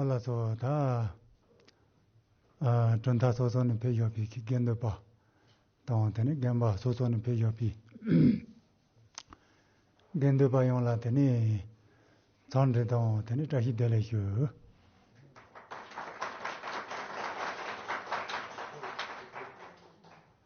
ཨ་ལ་སོགས་དག། གྲུབ་མཐའ་སོ་སོ་ནས་ཕེབས་ཞོག་པའི་དགེ་འདུན་པ། དང་དེ་ནས་རྒན་པ་སོ་སོ་ནས་ཕེབས་ཞོག་པའི་དགེ་འདུན་པ་ཡོངས་ལ་དེ་ནས་ཚང་འདྲི་དང་དེ་ནས་བཀྲ་ཤིས་བདེ་ལེགས་ཞུ།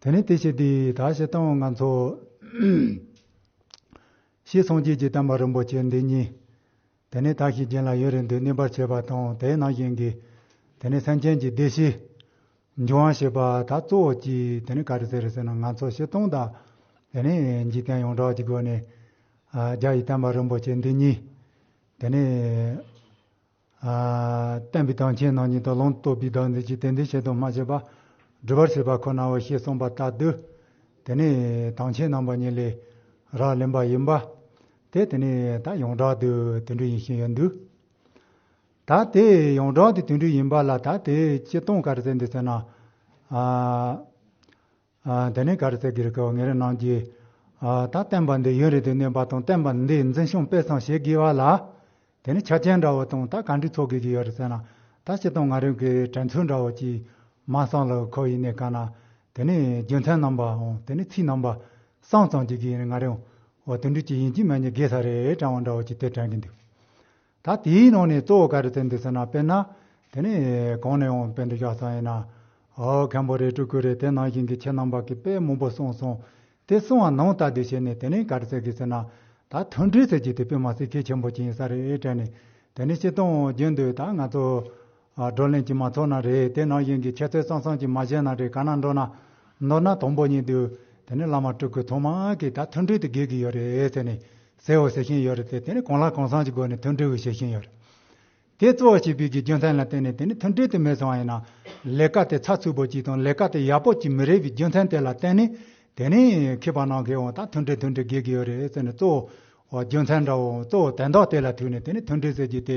དེ་ནས་དེ་བྱས་དེས་ད་ཞེས་བཏང་བ་ང་འཚོ། ཞེས་སངས་རྒྱས་ཀྱིས་བསྟན་པ་རིན་པོ་ཆེ་འདི་གཉིས། དེ་ནས་དག་ཞིང་གྱེན་ལ་ཡུན་རིང་དུ་གནས་པར་བྱས་པ་དང་དེའི་ནང་བཞིན་གྱི། དེ་ནས་སེམས་ཅན་གྱི་བདེ་གཤེགས། འབྱུང་བ་ཞེས་པ་ད་གཙོ་བོ་གྱིས་དེ་ནས་ག་རེ་ཟེར་ཟེར་ན་ང་འཚོ་ཞེས་བཏང་དང། དེ་ནས་འཇིག་རྟེན་ཡོངས་གྲགས་ཀྱི་སྒོ་ནས། རྒྱ་ཡི་བསྟན་པ་རིན་པོ་ཆེ་འདི་གཉིས། དེ་ནས། བསྟན་པའི་དོན་ཆེན་ནང་ཉིད་དུ་ལུང་བསྟོད་པའི་བདག་འཛིན་གྱིས་དེ་འདི་བྱེད་དོ་སྨྲ་བྱེད་པ་སྒྲུབ་པར་བྱེད་པ་ཁོ་ནའོ་ཞེས་གསུངས་པ་ལྟ་དུས། དེ་ནི་དོན་ཆེན་རྣམ་པ་གཉིས་ལས་རགས་ལེན་པ་ཡིན་པ། དེ་དེ་ནི་ད་ཡོངས་གྲགས་དུ་དེ་འདྲ་ཡིན་ཞིང་ཡོད་འདུག་ད་དེ་ཡོངས་གྲགས་དུ་དེ་འདྲ་ཡིན་པ་ལ་ད་དེའི་སྤྱི་དོན་ག་རེ་བསྟན་འདུག་ཟེར་ན། དེ་ནས་ག་རེ་ཚེ་གེ་རེ་ཁེ་བ་ངེ་རེ་གནང་རྒྱུ། ད་བསྟན་པ་འདི་ཡུན་རིང་དུ་གནས་པ་དང་བསྟན་པ་འདིའི་འཛིན་ཤུགས་སྤེལ་གསང་བྱེད་དགོས་བ་ལ། དེ་ནི་ཆ་རྐྱེན་འདྲ་བོ་དང་ད་ག་འདྲི་ཚོགས་དགོས་ཀྱི་ཡོད་རེད་ཟེར་ན་ད་སྤྱི་དང་ང་རང་གི་དྲན་ཚུལ་འདྲ་བོ་ཅིག་མ་གསང་ལ་ཁོ་ཡི་ནས་ག་ན་དེ་ནི་རྒྱུ་མཚན་རྣམ་པའང་དེ་ནི་ཚིག་རྣམ་པ་གསང་ཙམ་གྱི་གི་ཡིན་ང་རང་བ་དུད་འགྲོས་ཀྱི་ཡིན་གྱི་མ་ཉེས་དགེ་ས་རེད་དྲང་བ་འདྲ་བོ་ཅིག་དེ་དྲན་གི་འདུག། ད་དེའི་ནང་ནས་གཙོ་བོ་ག་རེ་བསྟན་འདུག་ཟེར་ན་དཔེར་ན་དེ་ནི་གང་ནས་འོངས་པའི་འདུག་ཤག་ཚང་ཡིན་ན་ཨོ་མཁན་པོ་རེད་སྤྲུལ་སྐུ་རེད་དེ་ནང་བཞིན་གྱི་ཁྱེད་རྣམས་པ་གི་དཔེ་མང་པོ་གསུངས་སོང་དེ་གསུངས་བ་ནང་ལྟ་དུས་བྱས་ནས་དེ་ནས་ག་རེ་ཟེར་དགོས་ཟེར་ན་ད་མཐུན་སྒྲིལ་ཟེར་རྒྱུ་དེ་དཔེ་མ་ཟིག་གེ་ཆེན་པོ་ཅིག་ཡིན་ས་རེད་དྲན་ནས་དེ་ནས་ཕྱི་གཏོང་རྒྱུ་འདུག་ད་ང་ཚོ་བགྲོ་གླེང་གྱི་མ་ཐོབ་ན་རེ་དེ་ནང་བཞིན་གྱི་ཁྱད་རྩོད་གཙང་གཙང་གྱི་མ་བྱས་ན་རེ་ག་ན་འགྲོ་ན། ནོར་ན་དང་པོ་གཉིས་འདུག་དེ་ནས་བླ་མ་སྤྲུལ་སྐུ་ཐོག་མ་གིས་ད་མཐུན་སྒྲིལ་དུ་དགོས་ཀྱི་ཡོད་རེད་ཟེར་ནས་ཟེར་བ་ཟེར་བཞིན་ཡོད་རེད་དེ་དེ་ནས་གང་ལ་གང་བཟང་གྱི་སྒོ་ནས་མཐུན་སྒྲིལ་བྱེད་བཞིན་ཡོད་རེད་དེ། གཙོ་བོ་བྱེད་པོས་ཀྱི་རྒྱུ་མཚན་ལ་བརྟེན་ནས་དེ་ནས་མཐུན་སྒྲིལ་དུ་མེད་སོང་བ་ཡིན་ན། ལས་ཀ་དེ་ཚགས་ཚུད་པོ་གྱིས་དང་ལས་ཀ་དེ་ཡག་པོ་གྱིས་མི་རེད་པའི་རྒྱུ་མཚན་དེ་ལ་བརྟེན་ནས་དེ་ནས་མཁས་པ་ནང་མཁས་བོ་ད་མཐུན་སྒྲིལ་མཐུན་སྒྲིལ་དགོས་ཀྱི་ཡོད་རེད་ཟེར་ནས་གཙོ་བོ་རྒྱུ་མཚན་འདྲ་བོ་གཙོ་བོ་དེ་འདྲ་དེ་ལ་ཐུག་ནས་དེ་ནས་མཐུན་སྒྲིལ་ཟེར་རྒྱུ་དེ་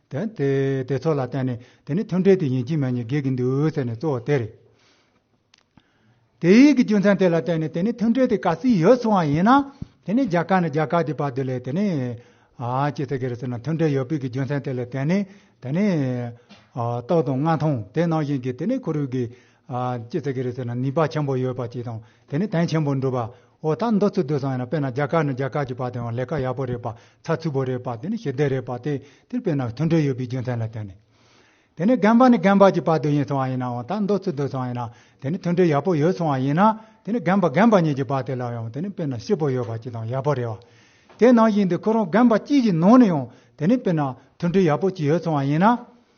དེ་དེ་དེ་ཚོ་ལ་བརྟེན་ནས་དེ་ནི་མཐུན་འབྲེལ་དེ་ཡིན་གྱི་མེད་གཉིས་འགལ་གྱི་འདུག་ཟེར་ནས་གཙོ་བོ་དེ་རེད། དེ་ཡིག་གི་རྒྱུ་མཚན་དེ་ལ་བརྟེན་ནས་དེ་ནི་མཐུན་འབྲེལ་དེ་ག་སྲིད་ཡོད་གསུང་བ་ཡིན་ན། དེ་ནི་རྒྱ་གར་ནས་རྒྱ་གར་དེ་བར་དེ་ལས་དེ་ནི། ཅི་ཟེར་གི་རེད་ཟེར་ན་མཐུན་འབྲེལ་ཡོད་པའི་གི་རྒྱུ་མཚན་དེ་ལ་བརྟེན་ནས་དེ་ནི། རྟོགས་དང་མངའ་ཐང་དེ་ནང་བཞིན་གྱི་དེ་ནི་གུ་རུས་གི་ཀྱེ་ཙཀྵི་རི་དེ་ན་ནུས་པ་ཆེན་པོ་ཡོད་པ་ཅིག་དང་དེ་ནི་དོན་ཆེན་པོ་འགྲུབ་པ་འོ་ད་འདོད་ཚུལ་སྡོད་སོང་ཡིན་ན་དཔེར་ན་རྒྱ་གར་ནས་རྒྱ་གར་གྱི་བར་དེ་ཡང་ལས་ཀ་ཡག་པོ་རེད་པ་ཚ་ཚུད་པོ་རེད་པ་དེ་ནི་ཞི་བདེ་རེད་པ་དེ་དེར་དཔེར་ན་མཐུན་འབྲེལ་ཡོད་པའི་རྒྱུ་མཚན་ལ་བརྟེན་ནས། དེ་ནས་རྒན་པ་ནས་རྒན་པ་གྱི་བར་དོད་ཡིན་སོང་བ་ཡིན་ནའང་ད་འདོད་ཚུལ་སྡོད་སོང་ཡིན་ན་དེ་ནི་མཐུན་འབྲེལ་ཡག་པོ་ཡོད་སོང་བ་ཡིན་ན་དེ་ནི་རྒན་པ་རྒན་པ་གཉིས་ཀྱི་བར་དེ་ལ་ཡང་དེ་ནི་དཔེར་ན་སྐྱིད་པོ་ཡོད་པ་ཅིག་དང་ཡག་པོ་རེད་བ། དེ་ནང་བཞིན་དུ་ཁོ་རང་རྒན་པ་གཅིག་གི་ནང་ནས་ཡང་དེ་ནི་དཔེར་ན་མཐུན་འབྲེལ་ཡག་པོ་ཅིག་ཡོད་སོང་བ་ཡིན་ན།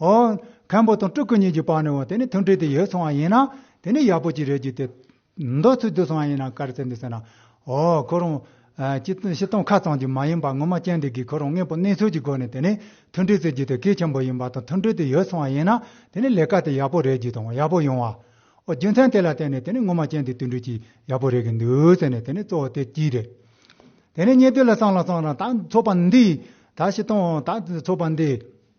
མཁན་པོ་དང་སྤྲུལ་སྐུ་གཉིས་ཀྱི་བར་ནས་འོ་དེ་ནི་མཐུན་འབྲེལ་དེ་ཡོད་སོང་བ་ཡིན་ན་དེ་ནི་ཡག་པོ་ཅིག་རེད་ཅིག་དེ། མདོ་ཚུལ་བསྡུས་སོང་བ་ཡིན་ན་དཀའ་རེ་བཙལ་འདུག་ཟེར་ན། འོ་ཁོ་རང། སྤྱི་སྟངས་ཁ་ཙམ་གྱིས་མ་ཡིན་པར་ངོ་མ་ཅན་འདི་གིས་ཁོ་རང་དངོས་པོ་གནས་ཚུལ་གྱི་སྒོ་ནས་དེ་ནི་མཐུན་འབྲེལ་བཙལ་རྒྱུ་དེ་གལ་ཆེན་པོ་ཡིན་པ་དང་མཐུན་འབྲེལ་དེ་ཡོད་སོང་བ་ཡིན་ན་དེ་ནི་ལས་ཀ་དེ་ཡག་པོ་རེད་ཅིག་དང་ཡག་པོ་ཡོང་བའོ་རྒྱུ་མཚན་དེ་ལ་བརྟེན་ནས་དེ་ནི་ངོ་མ་ཅན་འདི་མཐུན་འབྲེལ་གྱིས་ཡག་པོ་རེད་གི་འདུག་ཟེར་ནས་དེ་ནི་གཙོ་བོ་དེ་གཅིག་རེད། དེ་ནས་གཉིས་དུས་ལ་སང་ལ་སང་ལ་ད་ཚོགས་པ་འདིས་ད་སྤྱི་སྟངས་ད་ཚོགས་པ་འདིས།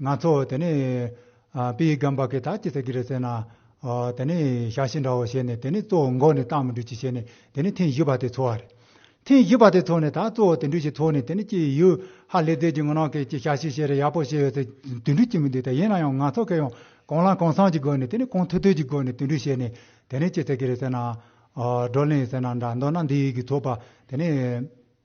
ང་ཚོ་དེ་ནས་པི་ཡི་སྒམ་པ་གི་ད་ཅི་ཟེར་གི་རེད་ཟེར་ན། དེ་ནས་ཞག་བཞི་འདྲ་བོ་བྱས་ནས་དེ་ནས་གཙོ་བོ་འགོག་ནས་བཏང་མི་འགྲུབ་ཅི་བྱས་ནས་དེ་ནས་ཐེངས་བཞི་པ་དེ་འཚོ་བ་རེད། ཐེངས་བཞི་པ་དེ་འཚོ་ནས་ད་གཙོ་བོ་དེ་འདྲུས་ཀྱི་འཚོ་ནས་དེ་ནས་ཅི་ཡོད་ཧ་ལས་རྫས་ཀྱི་ངོ་ནང་གི་ཅི་ཞག་བཞི་བྱས་རེད་ཡག་པོ་བྱས་ཡོད་ཟེར་དེ་འདྲུས་ཀྱི་མི་འདུག་ད་ཡིན་ན་ཡང་ང་ཚོ་གི་ཡང་གང་ལ་གང་བསམ་གྱི་སྒོ་ནས་དེ་ནས་གང་ཐོས་ཐོས་ཀྱི་སྒོ་ནས་དེ་འདྲུས་བྱས་ནས་དེ་ནས་ཅི་ཟེར་གི་རེད་ཟེར་ན། བགྲོ་གླེང་ཟེར་ན་འདྲ་མདོར་ན་འདི་ཡི་གི་འཚོ་བ་དེ་ནས།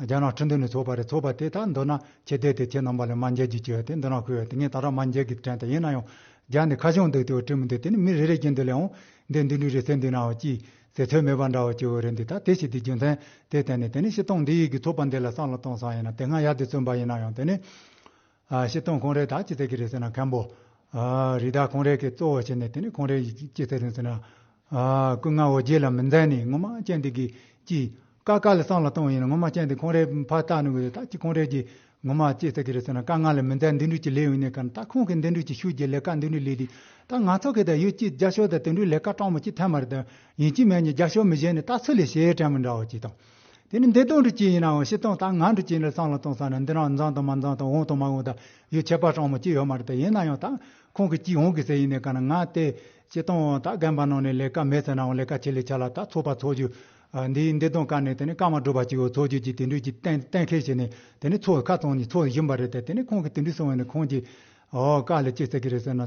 རྒྱ་ནག་ཁྲིམས་དོན་ནས་ཚོགས་པ་རེ་ཚོགས་པ་དེ་དག་མདོར་ན་ཁྱི་ལྡེ་དེ་ཁྱི་ནང་པ་ལས་སྨྲ་མཇལ་གྱིས་བྱས་པ་དེ་མདོར་ན་ཁུ་བས་དེ་ངས་ད་རག་སྨྲ་མཇལ་གྱིས་དྲན་ཐལ་ཡིན་ན་ཡང་རྒྱ་འདི་ཁ་ཕྱོགས་འདུག་དེ་བས་བཀྲིན་མི་འདུག་དེ་ནི་མི་རེ་རེ་ཀྱིས་འདི་ལས་འོང་འདི་འདི་འདྲུ་རེ་ཟེར་འདི་ནའོ་ཅི་ཟེར་ཚོད་མེད་པ་འདྲ་བོ་སྐྱེ་བོ་རེ་འདི་ད་དེ་ཞིག་དེ་རྒྱུ་མཚན་དེ་བསྟན་ནས་དེ་ནི་ཤི་སྟོང་འདི་ཡིག་གིས་ཚོགས་པ་འདི་ལ་སང་ལ་སྟོང་སང་ཡིན་ན་དེ་སྔ་ཡར་དེ་བརྩོན་པ་ཡིན་ན་ཡང་དེ་ནི། བཤད་སྟངས་གང་རེད་ད་ཅི་ཟེར་གི་རེད་ཟེར་ན་མཁན་པོ། རི་དྭགས་གང་རེད་གི་གཙོ་བོ་བྱས་ནས་དེ་ནས་གང་རེད་ཅི་ཟེར་རུང་ཟེར་ན། སྐུ་ངལ་བ་རྗེས་ལ་མི་འཛེམས་ནས་ངོ་མ་ཅན་དེ་གི་ཅི། ཀ་དཀའ་ལ་སང་ལ་སྟོང་ཡིན་ན་ངོ་མ་ཅན་དེ་གང་རེད་ཕར་བཏགས་ནུ་གི་རེད་ད་ཅི་གང་རེད་ཀྱི་ངོ་མ་ཅི་ཟེར་གི་རེད་ཟེར་ན་དཀའ་ངལ་ལ་མི་འཛེམས་འདི་འདྲུས་ཀྱི་ལས་ཡོད་ནས་ཀ་ད་ཁོང་གི་འདི་འདྲུས་ཀྱི་ཤུགས་ཀྱི་ལས་ཀ་འདི་འདྲུས་ལས་དེ་ད་ང་ཚོ་གི་ད་ཡོད་ཀྱི་རྒྱ་ཤོག་ད་དེ་འདྲུས་ལས་ཀ་སྤྲང་མོ་ཅི་ཐལ་མ་རེད་ད་ཡིན་གྱི་མེད་ནས་རྒྱ་ཤོག་མི་གཞན་ནས་ད་ཚོད་ལས་བྱེད་ཀྲན་མི་འདྲ་བ་ཅི་དང། དེ་ནི་འདི་སྟོང་དུ་སྐྱེས་ཡིན་ནའང་ཕྱི་སྟོང་དང་ནང་དུ་སྐྱེས་ནས་སྟོང་ལ་སྟོང་ཟ་ན་འདི་རང་མཛངས་དང་མ་མཛངས་དང་འོང་དང་མ་འོང་དང་ཡོད་ཁྱད་པར་ཅང་མ་སྐྱེས་ཡོད་མ་རེད་དེ་ཡིན་ན་ཡང་དག་ཁོང་གིས་ཅིག་འོང་གི་ཟེར་ཡིན་ནའི་ག་ན་ང་དེ་ཕྱི་སྟོང་འོང་དང་རྒན་པ་ནང་ནས་ལས་ཀ་མེད་ཟེར་ནའང་ལས་ཀ་བྱེད་ལས་བྱ་ལ་དག་ཚོགས་པ་ཚོགས་རྒྱུ་འདིའི་འདི་སྟོང་ཀ་ནས་དེ་ནི་ཀ་མ་བསྒྲུབ་པ་ཅིག་ཡོད་ཚོགས་རྒྱུ་ཅིག་དེ་འདྲུས་ཀྱི་གཏན་གཏན་འཁེལ་བྱས་ནས་དེ་ནི་ཚོགས་ཁ་ཚང་གཉིས་ཚོགས་བཞིན་པ་རེད་དེ་དེ་ནི་ཁོང་གིས་དེ་འདྲུས་སོང་བས་ནི་ཁོང་གིས་ཨོ་ཀ་ལས་སྐྱེས་ཟེར་གི་རེད་ཟེར་ན།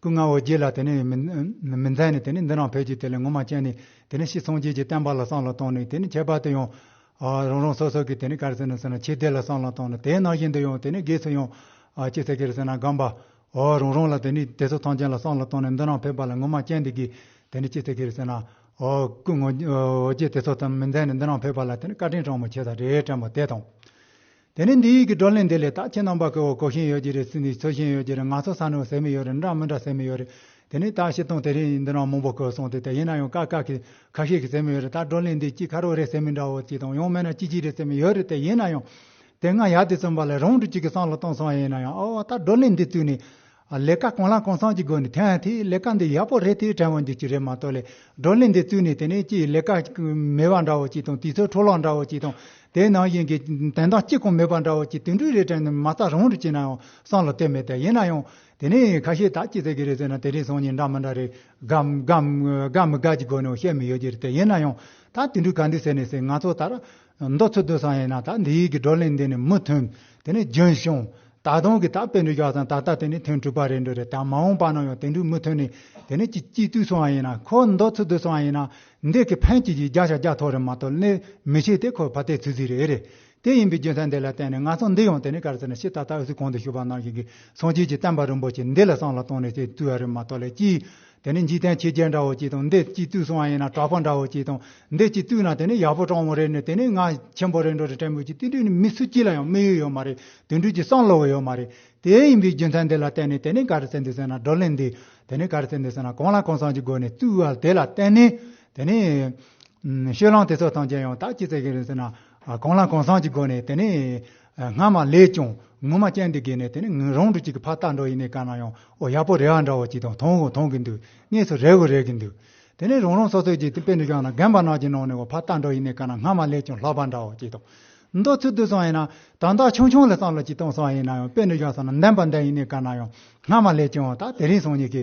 སྐུ་ལྔ་བོ་བརྒྱད་ལ་དེ་ནས་མི་མཛད་ནས་དེ་ནས་འདི་རང་ཕལ་གྱིས་དེ་ལས་ངོ་མ་སྤྱད་ནས་དེ་ནས་ཤི་སངས་རྒྱས་ཀྱི་བསྟན་པ་ལ་སྲང་ལ་བཏང་ནས་དེ་ནས་ཁྱད་པར་དུ་ཡང། རང་རང་སོ་སོ་གྱི་དེ་ནས་གར་སེར་ནས་སོང་ནས་ཆོས་སྡེ་ལ་སྲང་ལ་བཏང་ནས་དེའི་ནང་བཞིན་དུ་ཡང་དེ་ནས་དགེ་ཚུལ་ཡང། ཅི་ཟེར་གྱིར་སེར་ནང་སྒམ་པ། རང་རང་ལ་དེ་ནས་དེ་སོགས་ཐང་ཆེན་ལ་སྲང་ལ་བཏང་ནས་འདི་རང་ཕལ་པ་ལ་ངོ་མ་སྤྱད་འདི་གིས་དེ་ནས་ཅི་ཟེར་གྱིར་སེར་ནང། སྐུ་ལྔ་བོ་བརྒྱད་དེ་སོགས་དང་མི་མཛད་ནས་འདི་རང་ཕལ་པ་ལ་དེ་ནས་བཀའ་དྲིན་གྲངས་མ་ཆད་ད་རེས་དྲན་པ་དེ་དང། དེ་ནས་འདི་ཡིག་གི་བགྲོ་གླེང་འདི་ལས་དག་ཁྱེད་རྣམ་པ་གོ་བ་གོ་བཞིན་ཡོད་ཀྱི་རེད་སུ་ནི་ཆོས་བཞིན་ཡོད་ཀྱི་རེད་ང་ཚོ་ས་ནི་ཟེར་མི་ཡོད་རེད་འདྲ་མི་འདྲ་ཟེར་མི་ཡོད་རེད་དེ་ནས་དག་བཤད་སྟངས་དེ་རིང་འདི་ན་མང་པོ་གོ་སོང་དེ་དག་ཡིན་ན་ཡང་ཀག་ཀག་གི་ཁ་ཤས་ཀྱི་ཟེར་མི་ཡོད་རེད་ད་བགྲོ་གླེང་འདི་གཅིག་ཁ་རོག་རེད་ཟེར་མི་འདྲ་བོ་གཅིག་དང་ཡང་མེད་ན་ཅིག་ཅིག་རེད་ཟེར་མི་ཡོད་རེད་དེ་ཡིན་ན་ཡང་དེ་སྔ་ཡག་དེ་བཙོན་པ་ལ་རང་དུ་གཅིག་གི་སང་ལ་གཏོང་སོང་ཡིན་ན་ཡང་ཨོ་ད་བགྲོ་གླེང་འདི་བཙུགས་ནས་ལས་ཀ་གང་ལ་གང་བསམ་གྱི་སྒོ་ནས་ཐོན་ཡང་ཐེངས་ལས་ཀ་འདི་ཡག་པོ་རེད་དེ་དྲན་བ་འགྱུར་གྱི་རེད་མ་གཏོགས་ལས་བགྲོ་གླེང་འདི་བཙུགས་ནས་དེ་ནས་ཀྱི་ལས་ཀ་མེད་པ་འདྲ་བོ་ཅིག་དང་དུས་ཚོད་འཕྲོ་བརླག་འདྲ་བོ་ཅིག་དང་དེའི་ནང་བཞིན་གྱི་དོན་དག་གཅིག་ཀྱང་མེད་པ་འདྲ་བོ་ཅིག་དུད་འགྲོའི་རེ་དྲན་ནི་མ་རྩ་རང་རེ་གྱི་ནའང་སང་ལ་དོན་མེད་དེ་ཡིན་ན་ཡང་དེ་ནས་ཁ་ཤས་དག་ཅི་ཟེར་གྱི་རེད་ཟེར་ན་དེ་རིང་སང་ཉིན་འདྲ་མི་འདྲ་རེད་དགའ་མི་དགའ་དགའ་མི་དགའ་གྱི་སྒོ་ནས་བཤད་མི་ཡོད་ཀྱི་རེད་དེ་ཡིན་ན་ཡང་ད་དུད་འགྲོས་ག་འདུག་ཟེར་ནས་ཟེར་ང་ཚོ་ད་མདོ་ཚུལ་སྡོད་སང་ཡིན་ན་ད་འདི་ཡིག་གི་བགྲོ་གླེང་འདི་ནི་མི་མཐུན། དེ་ནི་རྒྱུན་བྱུང། ད་དུང་གི་ད་དཔེ་འགྲོས་རྒྱག་སང་ད་ལྟ་དེ་ནི་ཐོན་དྲུག་པ་རེད་འགྲོ་རེད་ད་མ་འོངས་པ་ན་ཡང་དེ་འདྲུག་མི་མཐུན་ནི་དེ་ནི་ཅི་སྐྱིད་དུས་སང་ཡིན་ན་ཁོ་མདོ་ཚུལ་སྡོད་སང་ཡིན་ན་འདི་གི་ཕན་ཅི་ཞིག་རྒྱག་ཤ་རྒྱག་ཐོག་རེད་མ་གཏོགས་ལས་མི་ཤེས་དེ་ཁོ་ཕ་ལྟའི་ཚུལ་ཟིག་རེད་རེད་དེ་ཡིན་པའི་རྒྱུ་མཚན་དེ་ལ་བརྟེན་ནས་ང་ཚོ་འདི་ཡང་དེ་ནི་ག་རེ་ཟེར་ན་ཕྱི་ད་ལྟ་ཨུ་སི་གང་དུ་བཞུགས་པ་ནང་བཞིན་གྱི་སངས་རྒྱས་ཀྱི་བསྟན་པ་རིན་པོ་ཆེ་འདི་ལ་སང་ལ་བཏང་ནས་ཅེས་བཏུལ་བ་རེད་མ་གཏོགས་ལས་ཅི་དེ་ནི་འཇིག་རྟེན་ཕྱི་རྒྱལ་འདྲ་བོ་ཅིག་དང་འདི་སྐྱིད་སྡུག་སོང་བ་ཡིན་ན་གྲགས་པ་འདྲ་བོ་ཅིག་དང་འདི་སྐྱིད་སྡུག་ན་དེ་ནི་ཡག་པོ་བཀྲོངས་བ་རེད་ནི་དེ་ནི་ང་ཆེན་པོ་རེད་འགྲོ་རེད་དྲན་པོ་ཅིག་དེ་འདྲས་ནི་མི་སུ་གཅིག་ལ་ཡང་དམིགས་ཡུལ་ཡོད་མ་རེད་དེ་འདྲས་ཀྱི་སང་ལོ་བོ་ཡོད་མ་རེད་དེའི་ཡིན་པའི་རྒྱུ་མཚན་དེ་ལ་བརྟེན་ནས་དེ་ནི་ག་རེ་བྱེད་འདོད་ཟེར་ན་བགྲོ་གླེང་འདི་དེ་ནི་ག་རེ་བྱེད་འདོད་ཟེར་ན་གང་ལ་གང་བསམ་གྱི་སྒོ་ནས་བཙུགས་བ་དེ་ལ་བརྟེན་ནས་དེ་ནི་ཤོད་ལམ་དེ་ཚོ་ཐམས་ཅད་ཡང་དག་ཅི་བྱེད་ཀྱི་རེད་ཟེར་ན་གང་ལ་གང་བསམ་གྱི་སྒོ་ནས་དེ་ནི། སྔ་མ་ལས་ཀྱང་ངོ་མ་སྤྱན་འདི་དགེ་ནས་དེ་ནི་རང་གྲོལ་གཅིག་གི་ཕ་རྟགས་འགྲོ་ཡིན་ནའི་གང་ན་ཡང་ཨོ་ཡག་པོ་རེ་བ་འདྲ་བོ་གཅིག་དང་དོང་བོ་དོང་གི་འདུག་གནས་ཚུལ་རེ་བོ་རེ་གི་འདུག་དེ་ནི་རང་རང་སོ་སོའི་འཇིག་རྟེན་དཔེ་འདི་སྦྱངས་ན་རྒན་པ་ནག་གི་ནང་ནས་ཨོ་ཕ་རྟགས་འགྲོ་ཡིན་ནའི་གང་ན་སྔ་མ་ལས་ཀྱང་ལྷག་པ་འདྲ་བོ་གཅིག་དང། མདོ་ཚུལ་བསྡུ་སང་ཡིན་ན་དང་དག་ཆུང་ཆུང་ལ་བསམ་བློ་གཅིག་གཏོང་སང་ཡིན་ན་ཡང་དཔེ་འདི་སྦྱངས་སང་ན་བདེན་པ་འདི་ཡིན་ནའི་གང་ན་ཡང་སྔ་མ་ལས་ཀྱང་ད་དེ་རིང་སང་ཉིད་ཀྱི་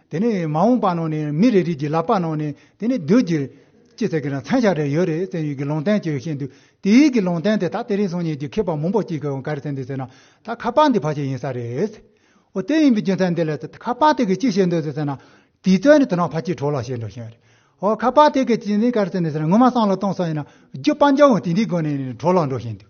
དེ་ནས་མ་འོངས་པ་ནང་ནས་མི་རེ་རེ་གྱི་ལག་པ་ནང་ནས་དེ་ནས་སྡོད་རྒྱུ། ཅི་ཟེར་གི་རང་མཚན་ཞག་རེ་ཡོད་རེད་བཙན་ཡུལ་གྱི་ལུང་བསྟན་གྱི་ཤེས་འདུག་དེ་ཡུལ་གྱི་ལུང་བསྟན་དེ་ད་དེ་རིང་སོང་ཉིན་གྱི་མཁས་པ་མང་པོ་གཅིག་གིས་ག་རེ་བསྟན་འདུག་ཟེར་ན་ད་ཁ་པར་འདི་ཕར་ཆེར་ཡིན་ས་རེད། འོ་དེ་ཡིན་པའི་རྒྱུ་མཚན་འདི་ལས་ད་ཁ་པར་དེ་གིས་ཅི་བྱེད་འདོད་ཟེར་ན། དུས་ཚོད་ནི་དུ་ནག་ཕར་ཆེར་གྲོགས་ལ་བྱེད་འགྲོ་བཞིན་རེད། འོ་ཁ་པར་དེ་གིས་ཅི་ནས་ག་རེ་བསྟན་འདུག་ཟེར་ན་ངོ་མ་སང་ལ་གཏོང་སོང་ཡིན་ན་རྒྱུ་སྤང་རྒྱ་བོ་དེ་འདི་དགོས་ནས་གྲོགས་ལ་འགྲོ་བཞིན་འདུག་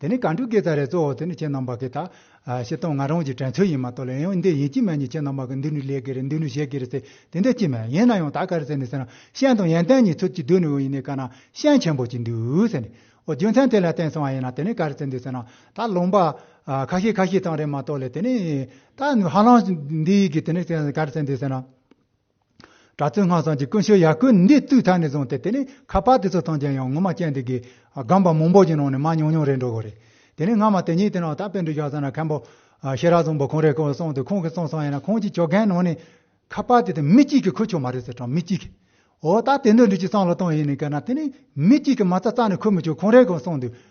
དེ་ནི་གངས་སྤྲུལ་སྐད་ཚ་རའི་གཙོ་བོ་དེ་ནི་ཁྱེད་རྣམས་པ་གི་ཐག་བྱེད་སྟངས་ང་རང་གི་དྲན་ཚོད་ཡིན་མ་གཏོགས་ལ་ཡང་འདི་ཡིན་གྱི་མེད་ནི་ཁྱེད་རྣམས་པ་གི་འདི་ནི་ལས་ཀྱི་རེད་འདི་ནི་གཞས་ཀྱི་རེད་ཟེར་དེ་འདྲ་གྱི་མེད་ཡིན་ན་ཡང་ད་ག་རེ་ཟེར་ནས་ཟེར་ན་ཤན་དང་ཡན་ཏན་གཉིས་ཚུལ་གྱིས་བསྡུས་ནས་འོན་ཡིན་ནའི་ག་ན་ཤན་ཆེན་པོ་གཅིག་འདུག་ཟེར་ནས་ཨོ་རྒྱུ་མཚན་དེ་ལ་བརྟེན་སོང་བ་ཡིན་ན་དེ་ནི་ག་རེ་ཟེར་འདུག་ཟེར་ན་ད་ལུང་པ་ཁ་ཤས་ཁ་ཤས་དང་རེད་མ་གཏོགས་ལ་དེ་ནི་ད་ཧ་ལམ་འདི་ཡིན་གྱི་དེ་ནི་ག་རེ་ཟེར་འདུག་ཟེར་ན། གྲྭ་བཙུན་སྔགས་བཟང་གྱི་ཀུན་སྤྱོད་ཡར་སྐུལ་ནུས་འདི་དུས་མཐའ་ནས་བཟུང་སྟེ་དེ་ནས་ཁ་པར་དེ་ཚོ་ཐང་ཅན་ཡང་ངོ་མ་སྐྱེལ་འདི་གི་སྒམ་པ་མང་པོ་ཞིག་ནང་ནས་མར་ཉུང་ཉུང་རེ་འགྲོ་གི་རེད་དེ་ནས་སྔ་མ་དེ་གཉིས་དེ་ནང་ད་པེ་འགྲུལ་བཞག་ས་ན་མཁན་པོ་ཤེས་རབ་བཟང་པོ་ཁོང་རེ་ཁོང་སོང་དུས་ཁོང་གིས་གསུངས་སོང་ཡིན་ན་ཁོང་ཀྱི་ཆོས་རྒན་ནང་ནས་ཁ་པར་དེ་དང་མི་གཅིག་གིས་ཁུར་ཆོག་མ་རེད་ཟེར་གྲང་མི་གཅིག་གིས་ཨོ་ད་དེ་འདྲ་འགྲུལ་གྱི་སང་ལོ་སྟོང་ཡིན་ནི་ཀ་ན་དེ་ནས་མི་གཅིག་གིས་མ་རྩ་རྩ་ནས་ཁུར་མི་ཆོག་ཁོང་རེ་ཁོང་སོང་དུས།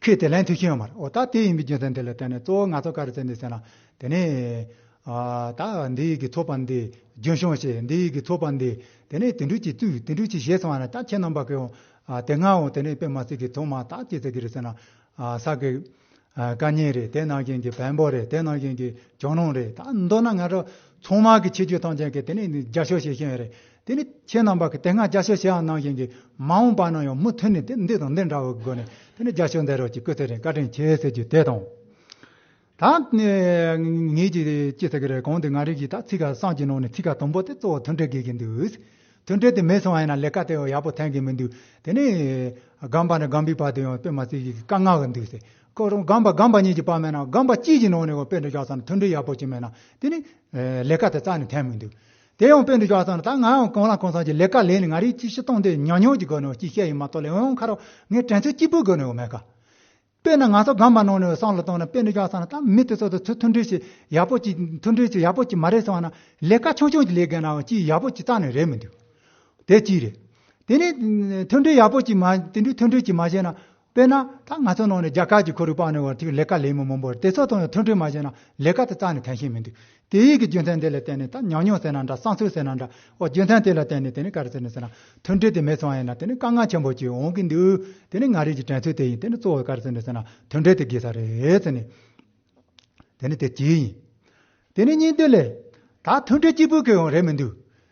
ཁོས་དེ་ལན་ཐོས་ཤེས་ཡོང་མ་རེད། འོ་ད་དེ་ཡིན་པའི་རྒྱུ་མཚན་དེ་ལ་བརྟེན་ནས་གཙོ་བོ་ང་ཚོ་ག་རེ་བྱེད་འདོད་ཟེར་ན། དེ་ནི། ད་འདི་ཡིག་གི་ཚོགས་པ་འདི་རྒྱུན་བྱུང་ཞེས་འདི་ཡིག་གི་ཚོགས་པ་འདི་དེ་ནི་དེ་འགྲུལ་གྱི་བཙུགས་དེ་འགྲུལ་གྱི་བཞེས་སོང་བ་ན་ད་ཁྱེད་རྣམ་པ་གིའོ། དེ་སྔའོ་དེ་ནི་པད་མ་སི་ཀའི་ཚོགས་མ་ད་ཅི་ཟེར་གི་རེད་ཟེར་ན། ས་ཀའི། བཀའ་རྙིང་རེད་དེ་ནང་བཞིན་གྱི་བེམ་པོ་རེད་དེ་ནང་བཞིན་གྱི་གྱང་རླུང་རེད་ད་མདོར་ན་ང་ཚོ་ཚང་མ་གི་ཆེ་རྒྱུ་ཐང་ཅན་གྱི་དེ་ནི་རྒྱ་ཤོག་བྱེད་ཤེས་ཡོན་རེད། དེ་ནི་ཁྱེད་རྣམས་པར་གྱི་དེ་སྔ་རྒྱ་ཤོག་ཞེ་འང་གནང་བཞིན་གྱི་མ་འོངས་པ་ན་ཡང་མུ་མཐུད་ནས་འདི་དང་འདི་འདྲ་བའི་སྒོ་ནས་དེ་ནི་རྒྱ་ཤོག་འདི་རོགས་ཀྱི་སྐུ་ཚེ་རིང་བཀའ་དྲིན་ཆེ་ཟེར་རྒྱུ་དེ་དང། ད་ངེད་ཀྱིས་ཅི་ཟེར་གི་རེད་གང་དུ་ང་རིགས་ཀྱིས་ད་ཚིག་ཁ་སང་གི་ནང་ནས་ཚིག་ཁ་དང་པོ་དེ་གཙོ་བོ་མཐུན་འབྲེལ་དགོས་ཀྱི་འདུག་མཐུན་འབྲེལ་དེ་མེད་སོང་ཡང་ན་ལས་ཀ་དེ་ཡང་ཡག་པོ་ཐེངས་གི་མི་འདུག་དེ་ནས་སྒམ་པ་ནས་སྒམ་པའི་བར་དུ་ཡང་དཔེ་མ་ཚིག་གིས་བཀའ་མངགས་གི་འདུག་ཟེར་ཁོ་རང་སྒམ་པ་སྒམ་པ་གཉིས་ཀྱི་བར་མེད་ན་སྒམ་པ་གཅིག་གི་ནང་ནས་ཡང་དཔེ་འདི་རྒྱག་ས་ན་མཐུན་འབྲེལ་ཡག་པོ་ཅིག་མེད་ན་དེ་ནི་ལས་ཀ་དེ་རྩ་ནས་ཐེངས་མི་འདུག་དེ་ཡང་དཔེ་འདི་ཅོག་ཙམ་ལ་ད་ང་ཡང་གང་ལ་གང་འཚམ་གྱི་ལས་ཀ་ལས་ནས་ང་རིག་གཅིག་ཤི་སྟོང་འདི་ཉག་ཉོག་གྱི་སྒོ་ནས་ཅིག་བཤད་ཡོད་མ་གཏོགས་ལས་འོན་ཁ་རོག་ངས་དྲན་ཚོད་གཅིག་པུའི་སྒོ་ནས་ཡོད་མེད་ག། དཔེར་ན་ང་ཚོ་སྒམ་པ་ནང་ནས་སང་ལ་བཏང་ནས་དཔེ་འདི་ཅོག་ཙམ་ལ་ད་མི་དེ་ཚོ་དང་ཚུར་མཐུན་འབྲེལ་ཞིག་ཡག་པོ་ཅིག་མཐུན་འབྲེལ་ཞིག་ཡག་པོ་ཅིག་མ་རེད་གསུང་ན་ལས་ཀ་ཆུང་ཆུང་ཅིག་ལས་དགོས་ནའང་ཅིག་ཡག་པོ་ཅིག་རྩ་ནས་རེད་མི་འདུག་དེ་གཅིག་རེད། དེ་ནས་མཐུན་འབྲེལ་ཡག་པོ་ཅིག་མ་དེ་འདྲའི་མཐུན་འབྲེལ་ཅིག་མ་བྱས་ན་དཔེར་ན། ད་ང་ཚོའི་ནང་ནས་རྒྱ་གར་གྱི་ཁོར་ཡུག་སྤངས་ནས་བར་ཐིག་ལས་ཀ་ལས་མི་མང་པོར་དེ་ཚོ་དང་ཡང་མཐུན་འཕྲོད་མ་བྱས་ན་ལས་ཀ་དེ་རྩ་ནས་འཐེན་ཤེས་མི་འདུག་དེ་ཡིག་གི་རྒྱུ་མཚན་དེ་ལ་བརྟེན་ནས་ད་ཉམས་མྱོང་ཟེར་ན་འདྲ་བསམ་ཚུལ་ཟེར་ན་འདྲ་འོ་རྒྱུ་མཚན་དེ་ལ་བརྟེན་ནས་དེ་ནི་ག་རེ་ཟེར་ནས་ཟེར་ན་མཐུན་འཕྲོད་དེ་མེད་སོང་ཡིན་ན་དེ་ནི་དཀའ་ངལ་ཆེན་པོ་ཞིག་འོང་གི་འདུག་དེ་ནི་ང་རིགས་ཀྱི་དྲན་ཚུལ་དེ་ཡིན་དེ་ནི་གཙོ་བོ་ག་རེ་ཟེར་ནས་ཟེར་ན་མཐུན་འཕྲོད་དེ་དགོས་ས་རེད་ཟེར་ནས། དེ་ནི་དེ་གཅིག་ཡིན། དེ་ནས་གཉིས་མཐུད་ལས། ད་མཐུན་འཕྲོད་གཅིག་པུའི་ཁེ་དབང་རེད་མི་འདུག་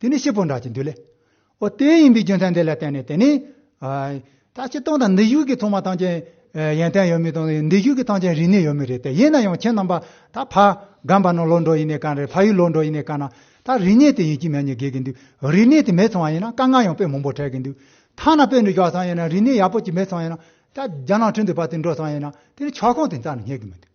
དེ་ནི་ཤེད་པོ་འདྲ་ཅིག་འདུག་ལེ། ཨོ་དེ་ཡིན་པའི་རྒྱུ་མཚན་དེ་ལ་བརྟེན་ནས་དེ་ནི། ད་ཁྱེད་སྟོང་དང་འདི་བཞུགས་ཀྱི་ཚོང་མ་ཐང་ཅན་ཡན་ཏན་ཡོད་མི་དང་འདི་བཞུགས་ཀྱི་ཐང་ཅན་རིག་གནས་ཡོད་མི་རེད་དེ་ཡིན་ན་ཡང་ཁྱེད་རྣམ་པ་ད་ཕ་སྒམ་པ་ནང་ལོག་འགྲོ་ཡི་ནས་གང་རེད་ཕ་ཡུལ་ལོག་འགྲོ་ཡི་ནས་གང་ན་ད་རིག་གནས་དེ་ཡིན་གྱི་མེད་ཉེས་འགེལ་གྱི་འདུག་རིག་གནས་དེ་མེད་ཚང་བ་ཡིན་ན་དཀའ་ངལ་ཡང་དཔེ་མང་པོ་འཕྲད་གྱི་འདུག་ཐང་ན་དཔེ་འདི་བཞག་ཚང་ཡིན་ན་རིག་གནས་ཡག་པོ་ཅིག་མེད་ཚང་ཡིན་ན་ད་རྒྱ་ནང་ཁྲིམས་དེ་བར་དེ་འགྲོ་ཚང་ཡིན་ན་དེ་ནི་ཆག་གོང་དེ་རྩ་ནས་རྙེད་གི་མི་འདུག།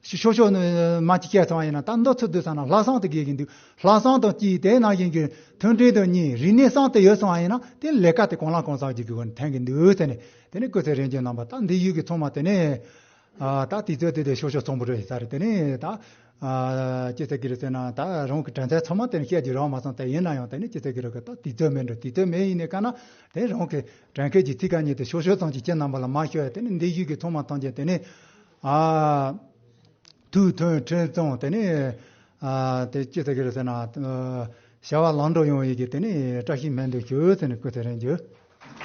ཞེས་ཤོག་ཤོག་ནི་མ་ཅིག་སྐད་ཚང་ཡིན་ན་ད་མདོ་ཚུལ་བསྡུ་ས་ན་ལྷ་བསང་དུ་དགོས་ཀྱི་འདུག་ལྷ་བསང་དང་གཅིག་དེ་ནང་བཞིན་གྱི་མཐུན་འབྲེལ་དང་གཉིས་རིག་གནས་བསང་དེ་ཡོད་སོང་བ་ཡིན་ན་དེ་ལས་ཀ་དེ་གང་ལ་གང་བསགས་རྒྱུ་དགོས་ནས་ཐན་གྱི་འདུག་ཟེར་ནས་དེ་ནས་སྐུ་ཚེ་རིང་གྱི་ནང་པ་ད་འདི་ཡུལ་གྱི་ཚོང་མ་དེ་ནས་ད་དུས་ཚོད་དེ་དེ་ཤོག་ཤོག་ཚོང་བུ་རེད་ས་རེད་དེ་ནས་ད་སྐྱིད་ཚེ་གིར་ཟེར་ན་ད་རང་གི་དྲན་ཚད་ཚང་མ་དེ་ནས་བཤད་རྒྱུ་རག་མ་སོང་དེ་ཡིན་ན་ཡང་དེ་ནས་སྐྱིད་ཚེ་གིར་གི་ད་དུས་ཚོད་མེད་འགྲོ་དུས་ཚོད་མེད་ཡིན་ནས་ཀ་ན་དེ་རང་གི་དྲན་སྐད་ཀྱི་ཚིག་ག་ཉིད་དེ་ཤོག་ཤོག་ཚང་གཅིག་ཁྱེད་རྣམ་པ་ལ་མ་ཤོད་ཡ་དེ་ནས་འདི་ཡུལ་གྱི་ཚོང་མ་ཐམས་ཅད་དེ་ནས་ཐུགས་མཐུན་ཁྲེལ་གཙང་དེ་ནི། དེ་ཅི་ཟེར་གི་རེད་ཟེར་ན། བྱ་བ་ལམ་འགྲོ་ཡོང་ཡི་གི་དེ་ནི་བཀྲ་ཤིས་སྨན་དུ་གྱུར་ཟེར་ནས་བསྐུལ་ཚེ་རན་གྱུར།